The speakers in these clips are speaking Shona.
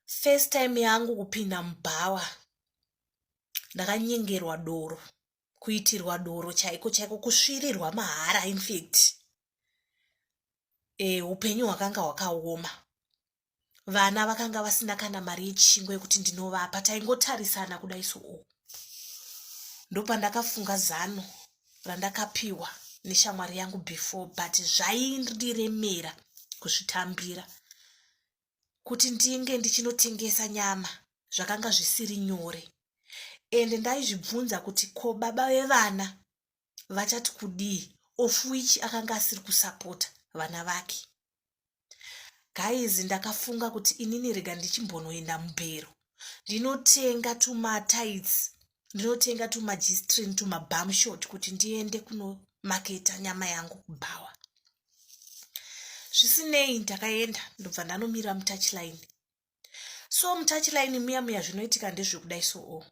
first time yangu kupinda mubhawa ndakanyengerwa doro kuitirwa doro chaiko chaiko kusvirirwa mahara infact e, upenyu hwakanga hwakaoma vana vakanga vasina kana mari yechingo yekuti ndinovapa taingotarisana kudai soo ndopandakafunga zano randakapiwa neshamwari yangu before but zvaindiremera kuzvitambira kuti ndinge ndichinotengesa nyama zvakanga zvisiri nyore ende ndaizvibvunza kuti ko baba vevana vachati kudii of which akanga asiri kusapota vana vake gaizi ndakafunga kuti inini rega ndichimbonoenda mubhero ndinotenga tumatights ndinotenga tumagistrin tumabamshot kuti ndiende kunomaketa nyama yangu kubhawa zvisinei ndakaenda ndobva ndanomira mutouchline so mutouchline muya muya zvinoitika ndezvekudai so o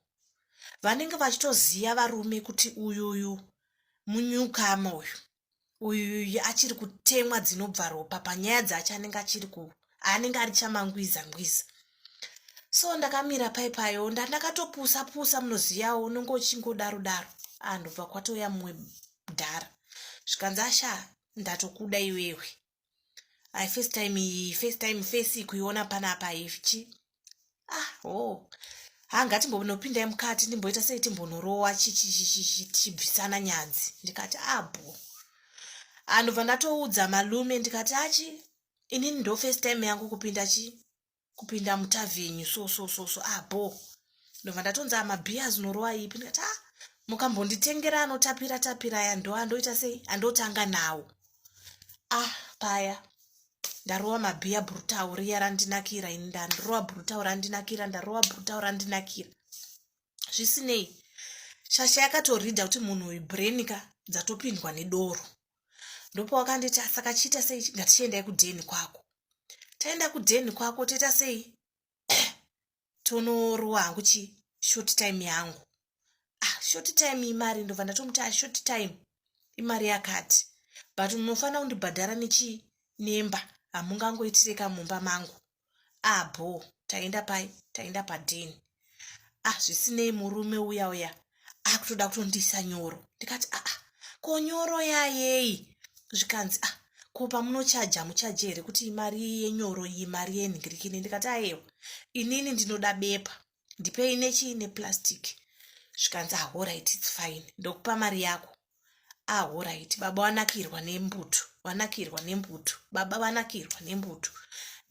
vanenge vachitoziva varume kuti uyuyu munyukama uyu uyuyu achiri kutemwa dzinobva ropa panyaya dzacho anenge achiri ku anenge ari chamangwiza ngwiza so ndakamira paipayo ndandakatopusa pusa munoziyawo unenge uchingodaro daro andobva ah, kwatouya mumwe dhara zvikanzi asha ndatokuda iwewe i first time iyi first time face kuiona panapa ifchi ah oh hangatimbombinopindai mukati ndimboita sei timbonorowa tichibvisana nyanzi ndikati abho ah, andobva ndatoudza malume ndikati achi inini ndo first time yangu kupinda chi kupinda mutavenyu so so so so ah bho ndobva ndatonzi amabhiya azinorova ipi ndikati ah mukambonditengera anotapira tapira aya ndo andoita sei andotanga nawo ah paya ndarova mabhiya brutawo riya randinakira ini ndandirova brutawo randinakira ndarova brutawo randinakira zvisinei shasha yakatoridha kuti munhu uyu brainika dzatopindwa nedoro ndipo wakanditi asaka chiita sei ngatichiendai kudheni kwako taenda kudheni kwako toita sei tonorova hangu chi short time yangu ah short time imari ndobva ndatomuti ah short time imari yakati but munofanira kundibhadhara nechii nemba hamungangoitireka mumba mangu abho taenda pai taenda padhini ah zvisinei murume uya uya akutoda kutondiisa nyoro ndikati aa ah, ah, ko nyoro yayei zvikanzi ah ko pamunochaja muchaje here kuti imari yenyoro iyi mari yenhingirikini ndikati ayewa inini ndinoda bepa ndipei nechii neplastic zvikanzi ahorit ah, its fine ndokupa mari yako ahorit ah, baba wanakirwa nembutu wanakirwa nembutu baba vanakirwa nembutu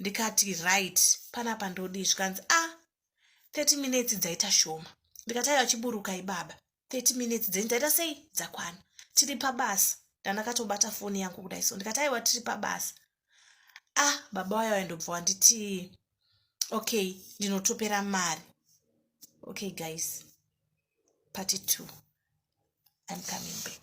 ndikati right panapa ndodii zvikanzi a ah, 30 minutes dzaita shoma ndikataiwa chiburukai baba 30 minutes dzenyu dzaita sei dzakwana tiri pabasa ndandakatobata foni yangu kudai so ndikati aiwa tiri pabasa ah baba waya wayandobva wanditi okay ndinotopera mari okay guys party two i'm coming back